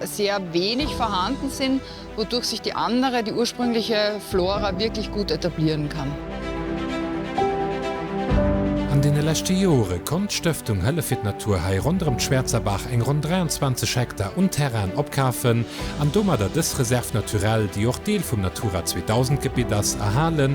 es sehr wenig vorhanden sind, wodurch sich die andere, die ursprüngliche Flora wirklich gut etablieren kann. An deene leschte Jore konnt d'Stëftung Hëllef fir d'Natur hei ronderëm d'Schwärzerbaach eng ronn 23 Hektar un Terrainen opkafen an domadder dës Réserve naturelle, déi och Deel vum Natura 2000 Gebitt ass, erhalen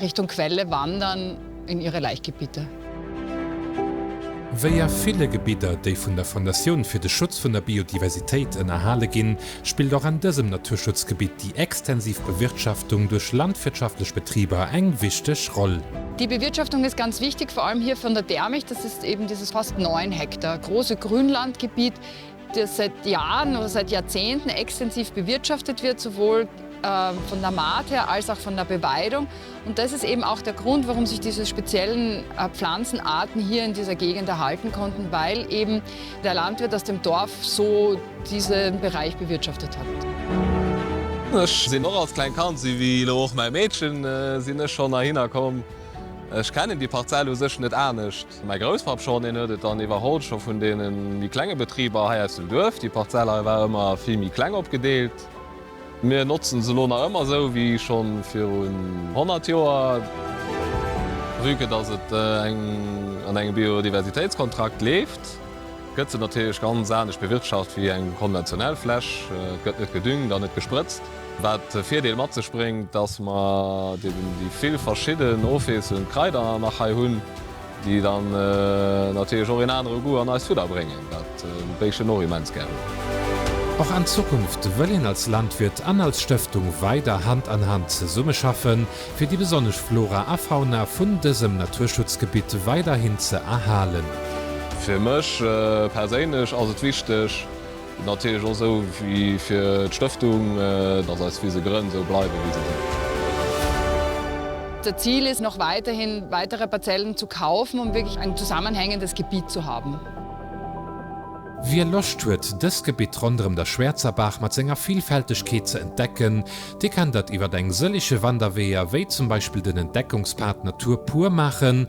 Richtung Quelle wandern in ihre Laichgebiete. Wéi a ville Gebidder, déi vun der Fondatioun fir de Schutz vun der Biodiversitéit ënnerhale ginn, spillt och an dësem Naturschutzgebitt déi extensiv Bewirtschaftung duerch landwirtschaftlech Betriber eng wichteg Roll. Die Bewirtschaftung ist ganz wichtig, vor allem hier von der Dermicht, das ist eben dieses fast 9 Hektar große Grünlandgebiet, dës seit Jahren oder seit Jahrzehnten extensiv bewirtschaftet wird, sowohl von der Maat her als auch von der Beweidung. Und das ist eben auch der Grund, warum sich diese speziellen Pflanzenarten hier in dieser Gegend erhalten konnten, weil eben der Landwirt aus dem Dorf so diesen Bereich bewirtschaftet hat. Ech sinn och als klengt Kand, si wéi elo och mäi Meedchen, sinn ech schon heihinner komm. Ech kennen déi Parzell u sech net anescht. Mäi Grousspapp schonn, deen huet et dann iwwerholl, scho vun deene méi klenge Betriber hei aus dem Duerf. Déi Parzell hei war ëmmer vill méi kleng opgedeelt. Mir notzen se elo nach ëmmer esou wéi schonn virun 100 Joer. Vue que dass et an engem Biodiversitéitskontrakt leeft, gëtt se natierlech ganz anescht bewirtschaft wéi eng konventionell Fläch. Et gëtt net gedüngt an net gesprëtzt. Wat de Virdeel mat sech bréngt, dass mer déi vill verschidden ofwiesselnd Kraider nach hei hunn, déi dann natierlech och een anere Goût an eist Fudder bréngen, wat d'Béischten och immens gär hunn. Och an Zukunft wëll een als Landwirt an als Stëftung weider Hand an Hand zesummeschaffen, fir déi besonnesch Flora a Fauna vun dësem Naturschutzgebitt weiderhin ze erhalen. Fir mech perséinlech ass et wichteg, Natierlech och esou wéi fir d'Stëftung, dass eis Wise grënn esou bleiwen, wéi se sinn. Das Ziel ist noch weiterhin, weitere Parzellen zu kaufen, um wirklich ein zusammenhängendes Gebiet zu haben. Wie Loscht huet, dëst Gebitt ronderëm der Schwärzerbaach mat senger Vielfältegkeet ze entdecken, dee kann dat iwwert eng sëllege Wanderweeër, wéi zum Beispill den Entdeckungspad Natur pur maachen,